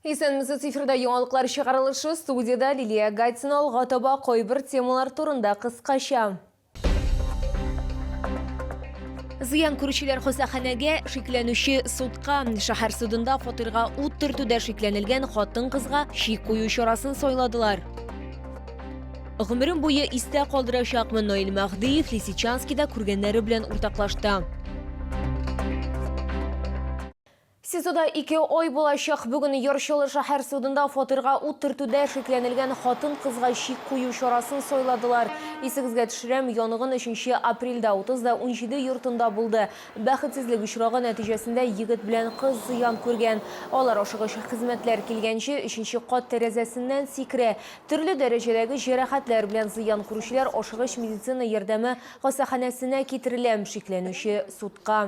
Исәнмесез, эфирда яңалыклар чыгарылышы, студиядә Лилия Гатина алга таба кайбер темалар турында кыскача. Зыян күрүчеләр хастаханәгә, шикләнүче судка, шәһәр судында фатирга ут төртүдә шикләнелгән хатын-кызга шик кую чарасын сайладылар. Гомерем буе истә калдырачакмын Наил Мәһдиев Лисичанскида күргәннәре белән уртаклашты. СИЗОда ике ай булачак бүген Яр-Чаллы шәһәр судында фатирга ут төртүдә шикләнелгән хатын-кызга чик кую чарасын сайладылар. Исегезгә төшерәм, янгын өченче апрельдә 30 да унҗиде йортында булды. Бәхетсезлек очрагы нәтиҗәсендә егет белән кыз зыян күргән. Алар ашыгыч хезмәтләр килгәнче, өченче кат тәрәзәсеннән сикерә. Төрле дәрәҗәдәге җәрәхәтләр белән зыян күрүчеләр ашыгыч медицина ярдәме хастаханәсенә китерелә. Шикләнүче судка.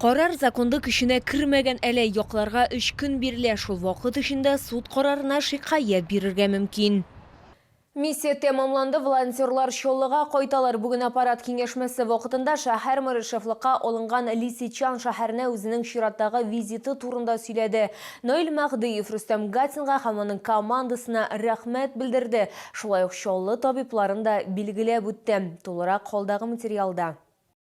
Карар законда көченә кермәгән әле, якларга өч көн бирелә, шул вакыт эчендә суд карарына шикаять бирергә мөмкин. Миссия тәмамланды, волонтерлар Чаллыга кайталар. Бүген аппарат киңәшмәсе вакытында шәһәр мэры шефлыкка алынган Лисичан шәһәренә үзенең чираттагы визиты турында сөйләде. Наил Мәһдиев Рөстәм Гатинга һәм аның командасына рәхмәт белдерде, шулай ук Чаллы табибларын да билгеләп үтте. Тулырак алдагы материалда.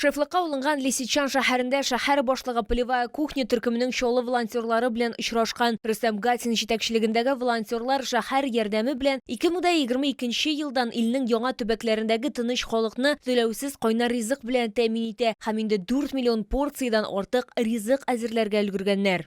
Шефлыкка алынган Лисичан шәһәрендә шәһәр башлыгы Полевая кухня төркеменең Чаллы волонтерлары белән очрашкан. Рөстәм Гатин җитәкчелегендәге волонтерлар шәһәр ярдәме белән 2022 елдан илнең яңа төбәкләрендәге тыныч халыкны түләүсез кайнар ризык белән тәэмин итә һәм инде 4 миллион порциядән артык ризык әзерләргә өлгергәннәр.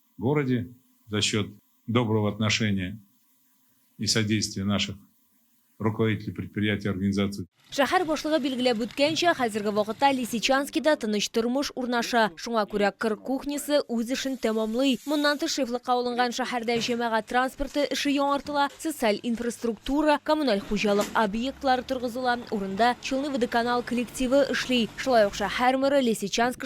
городе за счет доброго отношения и содействия наших руководителей предприятий и организаций. Шәһәр башлыгы билгеләп үткәнчә, хәзерге вакытта Лисичанскида тыныч тормыш урнаша. Шуңа күрә кыр кухнясы үз эшен тәмамлый. Моннан тыш шефлыкка алынган шәһәрдә җәмәгать транспорты эше яңартыла, социаль инфраструктура, коммуналь хуҗалык объектлары торгызыла, урында Челны водоканал коллективы эшли. Шулай ук шәһәр мэры Лисичанск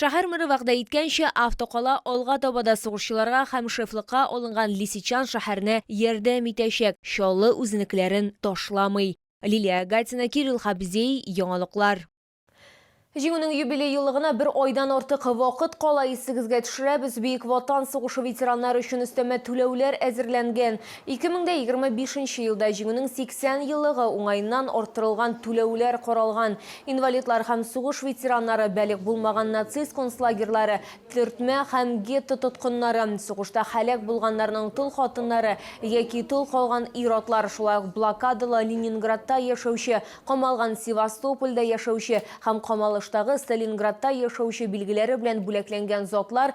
Шәһәр мэры вәгъдә иткәнчә, автокала алга таба да сугышчыларга һәм шефлыкка алынган Лисичан шәһәренә ярдәм итәчәк, Чаллы үзенекеләрен ташламый. Лилия Агатина, Кирилл Хабзей, Яңалыклар. Җиңүнең юбилей еллыгына бер айдан артык вакыт кала, исегезгә төшерәбез, Бөек Ватан сугышы ветераннары өчен өстәмә түләүләр әзерләнгән. 2025 нче елда Җиңүнең 80 еллыгы уңаеннан арттырылган түләүләр каралган. Инвалидлар һәм сугыш ветераннары, бәлигъ булмаган нацист концлагерьлары, төртмә һәм гетто тоткыннары, сугышта һәлак булганнарның тол хатыннары яки тол калган ир-атлар, шулай ук блокадалы Ленинградта яшәүче, камалган Севастопольдә яшәүче һәм камалыштагы Сталинградта яшәүче билгеләре белән бүләкләнгән затлар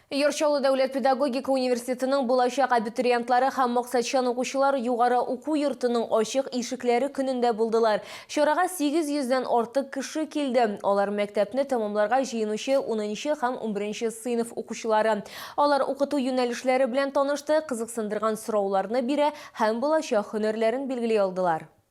Яр Чаллы дәүләт педагогика университетының булачак абитуриентлары һәм максатчан укучылар югары уку йортының ачык ишекләре көнендә булдылар. Чарага 800 дән артык кеше килде. Алар мәктәпне тәмамларга җыенучы унынчы һәм унберенче сыйныф укучылары. Алар укыту юнәлешләре белән танышты, кызыксындырган сорауларны бирә һәм булачак һөнәрләрен билгели алдылар.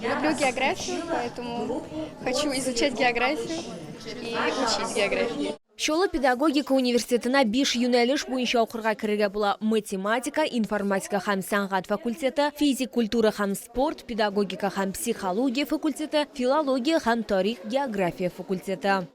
Люблю географию, поэтому хочу изучать географию и учить географию. Чолы педагогика университетына биш юнәлеш буенча укырга керергә була. Математика, информатика һәм сәнгать факультеты, физик культура һәм спорт, педагогика һәм психология факультеты, филология һәм тарих география факультеты.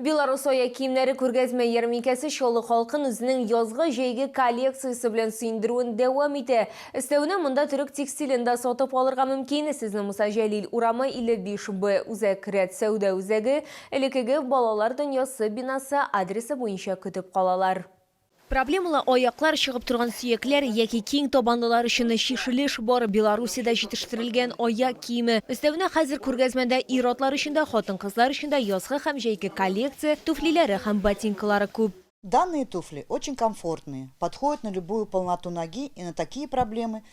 Белорусоя киемнәре күргәзмә ярминкәсе Чаллы халкын үзенең язгы-җәйге коллекциясе белән сөендерүен дәвам итә. Өстәвенә, монда төрек текстилен дә сатып алырга мөмкин. Сезне Муса Җәлил урамы, 55 Б, Үзәк рәт сәүдә үзәге, элеккеге Балалар дөньясы бинасы адресы буенча көтеп калалар. Проблемалы аяклар чыгып торган сөякләр яки киң табанлылар өчен чишелеш бар, Белоруссиядә җитештерелгән аяк киеме. Өстәвенә хәзер күргәзмәдә ир-атлар өчен дә, хатын-кызлар өчен дә язгы һәм җәйге коллекция туфлиләре һәм ботинкалары күп. Данные туфли очень комфортные, подходят на любую полноту ноги и на такие проблемы,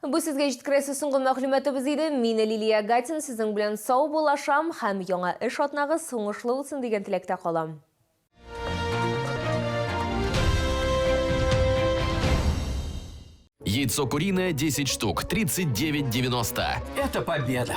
Бу сезгә җиткерәсе соңгы мәгълүматыбыз иде. Мин Лилия Гатин, сезнең белән сау булашам һәм яңа эш атнагыз уңышлы узсын дигән теләктә калам. Яйцо куриное 10 штук 39.90. Это победа!